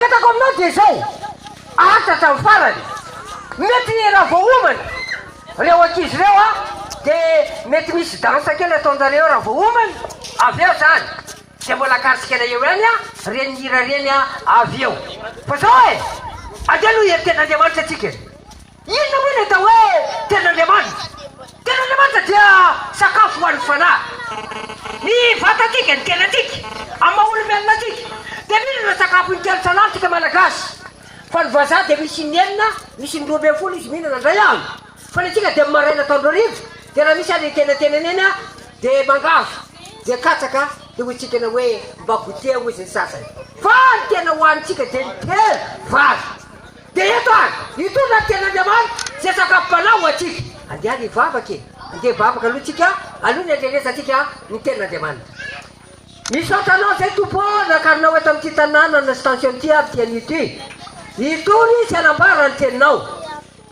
Mpetako aminao dia izao, aritra hatramin'ny farany. Mety raha vao homana ireo ankizy ireo aho dia mety misy dansa kely ataon-jareo eo raha vao homana, avy eo izany dia mbola akaritsikena eo ihany aho ireny hira ireny avy eo. Fa izao e! Andeha aloha hieritreritra Andriamanitra isika e! Inona moa ny atao hoe ten'Andriamanitra? Ten'Andriamanitra dia sakafo ho an'ny fanahy. Ny vatantsika, ny tenantsika, amin'ny maha olombelona antsika, dia mino ireo sakafo intelo isan'andro isika Malagasy. Fa ny vazaha dia misy in'enina, misy indroa ambin'ny folo izy mihinana indray andro. Fa ny antsika dia amin'ny maraina atoandro hariva, dia raha misy ary antenantenany eny dia mangavy, dia katsaka, dia hoentsikana hoe mba goûter hoy izy ny sasany. Fa ny tena hohanintsika dia ny telo, vary. Dia eto ary, hitondra ny Tenin'Andriamanitra izay sakafom-panahy ho antsika. Andeha hivavaka e! Andeha hivavaka aloha tsika, aloha ny handrenesantsika ny Tenin'Andriamanitra. Misaotra Anao izay Tompo ô, nakarinao eto amin'ity tanànana sy tension ity ary ity anio ity. Hitory Izy hanambara ny Teninao.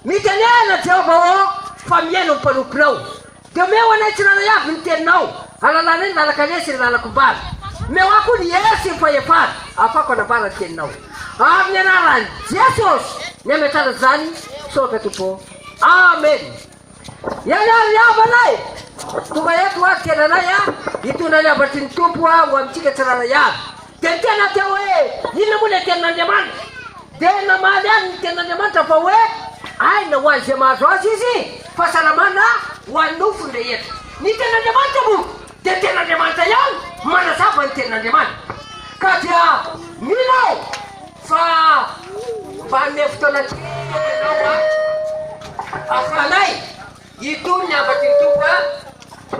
Mitenena Jehovah ô, fa mihaino ny mpanomponao. Dia omeo anay tsirairay avy ny teninao, alalanay ny lalan-kaleha sy ny lalan-kombàna. Omeo ahy koa ny hery sy ny fahefana, ahafahako hanambara ny teninao. Amin'ny anaran'i Jesosy ny hametrahana izany misaotra Tompo ô. Amen. Ianao ry havana e! Tonga eto hoavy kely anay a! Hitondra ny havatry ny Tompo ho antsika tsirairay avy. Dia tena dia hoe inona moa ilay tenin'Andriamanitra? Dia namaly ahy ny tenin'Andriamanitra fa hoe aina ho an'izay mahazo azy izy, fahasalamana ho an'ny nofony rehetra. Ny tenin'Andriamanitra moa dia tenin'Andriamanitra ihany, manazava ny tenin'Andriamanitra. Ka dia mino aho fa mba hanome fotoana kely ianao mba hahafahanay hitony ny hafatry ny Tompo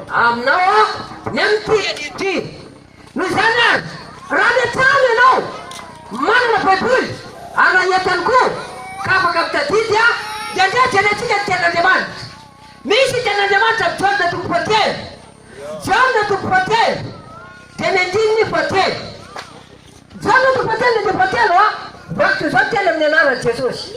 aminao ny amin'ny teny ity. Noho izany ary, raha any an-trano ianao manana Baiboly an'ahientany koa ka afaka mitadidy, dia andeha jerentsika ny Tenin'Andriamanitra. Misy ny Tenin'Andriamanitra amin'ny Jaona toko fahatelo, Jaona toko fahatelo dia ny andininy fahatelo. Jaona toko fahatelo dia fahatelo, vakiko izao teny amin'ny anaran'i Jesosy.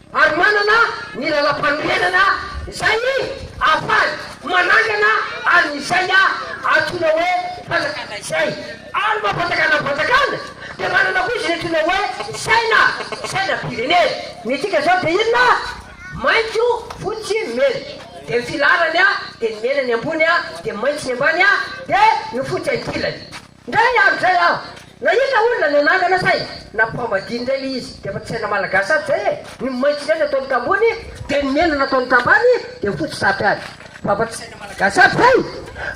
ary manana ny lalam-panorenana izay ahafahany manangana an'izay antsoina hoe fanjakana izay, ary maha fanjakana ny fanjakana dia manana koa izy ny antsoina hoe saina, sainam-pirenena. Ny dika izao dia inona? Maitso, fotsy, mena, dia ny filaharany dia ny mena ny ambony dia ny maitso ny ambany dia ny fotsy ankilany. Ndray ny aro zay aho na iza olona no anangana saingy na mpamadino ndray le izy dia efa tsy saina malagasy aby zay e, ny maitso ndray nataony tambony dia ny mena nataony tambany dia fotsy sampy any fa efa tsy saina malagasy aby zay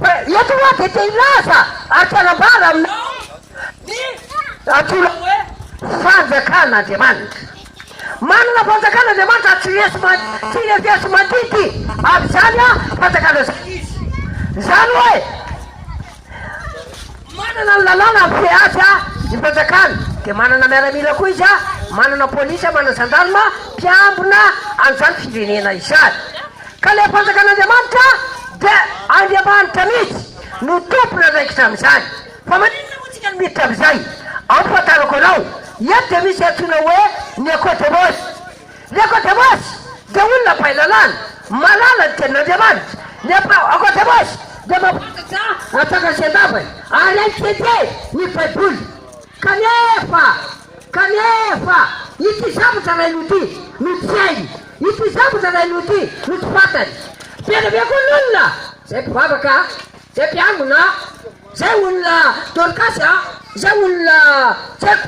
fa eto hoa dia te hilaza ary te hanambara aminao ny antsoina hoe fanjakan Andriamanitra manana fanjakan Andriamanitra tsy refesi-mandidy avy zany fanjakana zany izy zany hoe Manana ny lalàna ny PH ny mpanjakana, dia manana miaramila koa izy, manana polisy, manana zandarma mpiambina an'izany firenena izany. Ka ilay fanjakan'Andriamanitra dia Andriamanitra mihitsy no tompony andraikitra amin'izany. Fa maninona moa isika no miditra amin'izay? Amphafantarako anao, eto dia misy antsoina hoe ny Aquatabos. Ny Akôdemôsy dia olona mpahay lalàna, mahalala ny Tenin'Andriamanitra. Ny Akôdemôsy dia mampahafantatra antsika ny Fitiavany, ary hainy tiatia ny Baiboly. Kanefa, kanefa, ity zavatra iray noho ity no tsy hainy, ity zavatra iray noho ity no tsy fantany. Be dia be koa ny olona, izay mpivavaka, izay mpiangona, izay olona Dorkasy, izay olona tsy haiko,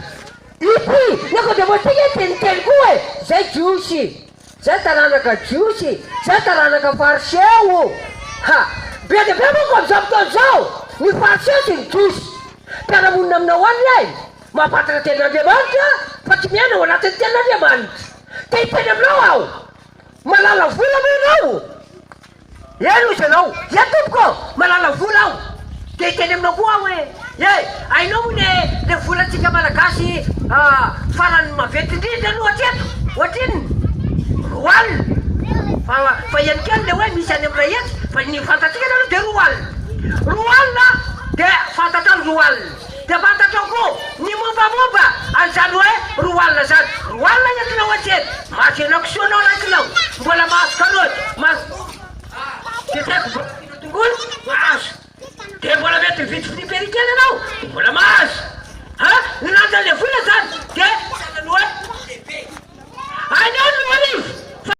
Ip, ny ankoatra voatsika dia ny telo koa e! Zay Jiosy, zay taranaka Jiosy, zay taranaka Fariseo. Ha! Be dia be manko amin'izao fotoana izao ny Fariseo sy ny Jiosy. Mpiara-monina aminy ao aminy e! Mahafantatra ny Tenin'Andriamanitra fa tsy miaina ao anatin'ny Tenin'Andriamanitra. Te hiteny aminao aho, Malala vola ve ianao? Eny hoy ianao, Ye tompoko ô! Malala vola aho! Dia hiteny aminao koa aho hoe, Ye! Hainao moa ny le volantsika Malagasy farany maventy indrindra aloha hatreto? Ohatrinona? Roa alina! Fa eny kely le hoe misy any amin'ny iray hetsy fa ny fantatsika aloha dia roa alina! Roa alina dia fantatrao ny roa alina! Dia fantatrao koa ny mombamomba an'izany hoe roa alina izany. Roa alina ny akinao antsena. Mahazo ianao kisoa ianao raha akinao. Mbola mahazo karaoty, mahazo dia tsy haiko mbola akinao tongolo, mahazo. Dia mbola mety mividy fruits berry kely ianao, dia mbola mahazo. Ha? Ny lanjan'ilay vola izany dia sahalan'ny hoe lehibe. Aleo ny roa arivo fa.